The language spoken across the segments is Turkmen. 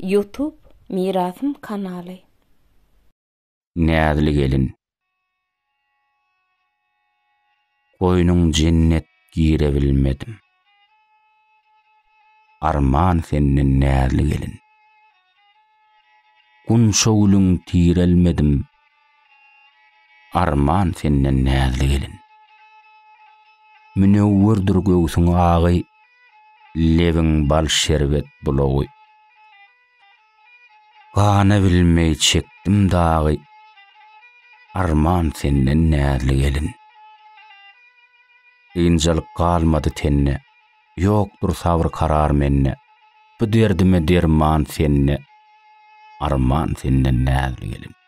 Ýutub Mirasym kanaly. Näzli gelin. Goýnuň jennet girebilmedim. Arman senden näzli gelin. Gunça gülüň tirelmedim. Arman senden näzli gelin. Münewwürdir göwsüň agy, Lebiň bal şerbet bulagy. Gana bilmeý çekdim dagy, Arman senden näzli gelin. Kynjalyk galmady tende, Ýokdur sabr-karar mende, Bu derdime derman sende, Arman senden näzli gelin.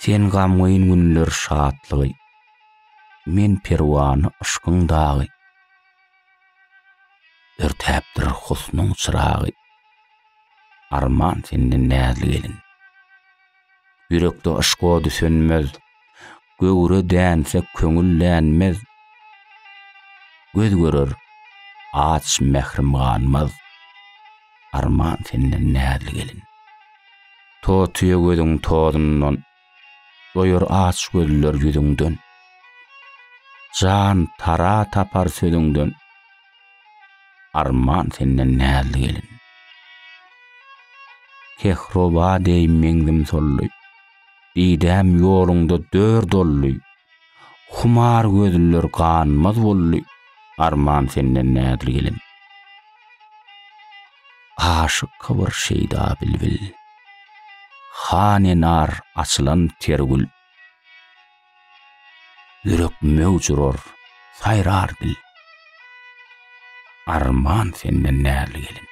Sen gamgyn günler şatlygy, Men perwany yşkyň dagy. Örtäpdir husnuň çyragy, Arman senden näzli gelin. Ýürekde yşk ody sönmez, Göwre dänse köňül dänmez, Göz görer aç mährim ganmaz, Arman senden näzli gelin. Totyýa gözüň tozundan, Doýar aç gözler ýüzüňden. Jan tara tapar sözüňden, Arman senden näzli gelin. Kehroba deý meňzim solly, Didäm ýoluňda dör doldy. Humar gözlüler ganmaz boldy, Arman senden nädir gelin. Aşyk kybyr şeýda bilbil. Hany nar açylan ter gül. Ýürek möwç urar, saýrar dil. Arman senden närli gelin.